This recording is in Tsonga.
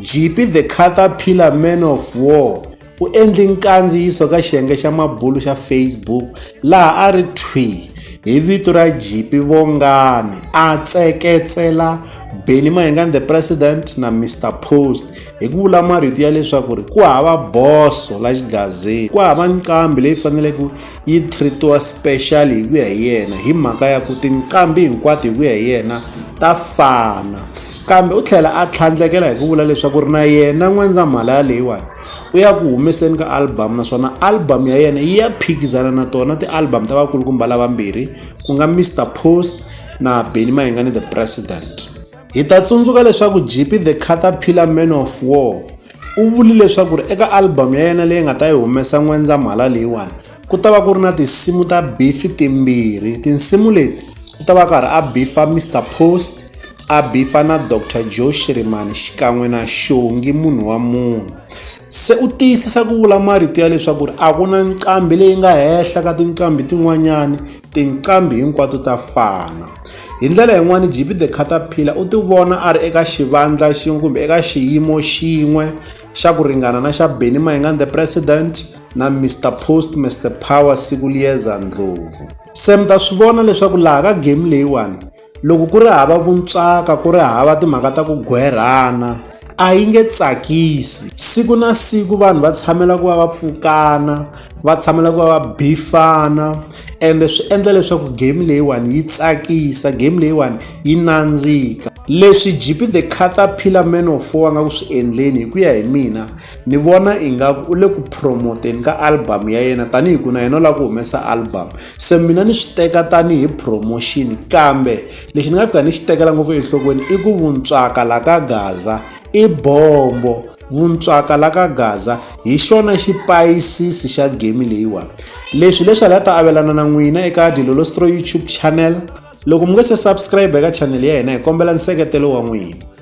Jeepie the Caterpillar Man of War u endle nkandziyiso ka xiyenge xa mabulu xa Facebook laha a ri thwi hi vito ra Jipi Vongani a tseketsela Benny Mayengani the President na Mr Post hi ku vula marito ya leswaku ri ku hava boso la xigazini ku hava nqambi leyi faneleke yi treatiwa special hi ku ya hi yena hi mhaka ya ku tinqambi hinkwato hi ku ya hi yena ta fana Kambe u tlhela a tlhandlekela hi ku vula leswaku ri na yena N'wendzamhala leyiwani u ya ku humeseni ka album naswona album ya yena yi ya phikizana na tona ti-album ta vakulukumba lavambirhi ku nga Mr Post na Benny Mayengani the President. Hi ta tsundzuka leswaku Jippy the Caterpillar Man of War u vuli leswaku ri eka album ya yena leyi nga ta yi humesa N'wendzamhala leyiwani ku ta va ku ri na tinsimu ta bifi timbirhi tinsimu leti ku ta va karhi a bifa mr post a bifa na dr joe shirimani xikan'we na xongi munhu wa munhu se u tiyisisa ku vula marito ya leswaku ri a ku na nqambi leyi nga henhla ka tinqambi tin'wanyani tinqambi hinkwato ta fana hi ndlela yin'wana gp the cataphila u ti vona a ri eka xivandla xin'we kumbe eka xiyimo xin'we xa ku ringana na xa benny mayengani the president na Mister Post Mister Power siku liyeza ndlovu se mi ta swi vona leswaku laha ka game leyiwani loko ku ri hava vuntswaka ku ri hava timhaka ta ku gwerhana a yi nge tsakisi siku na siku vanhu va tshamela ku va va pfukana va tshamela ku va va bifana ende swi endla leswaku game leyiwani yi tsakisa game leyiwani yi nandzika leswi gp the caterpillar man of four a nga ku swi endleni hi ku ya hi mina ni vona ingaku u le ku promoteni ka album ya yena tanihi ku na yena u lava ku humesa album se mina ni swi teka tanihi promotion kambe lexi ni nga fika ni xi tekela ngopfu enhlokweni i ku vuntswaka la ka gaza i bombo vuntswaka la ka gaza hi xona xipayisisi xa game leyiwani leswi leswi a la ta avelana na n'wina eka dilolostro youtube channel loko mi nga se subscribe eka channel ya hina hi kombela nseketelo wa n'wina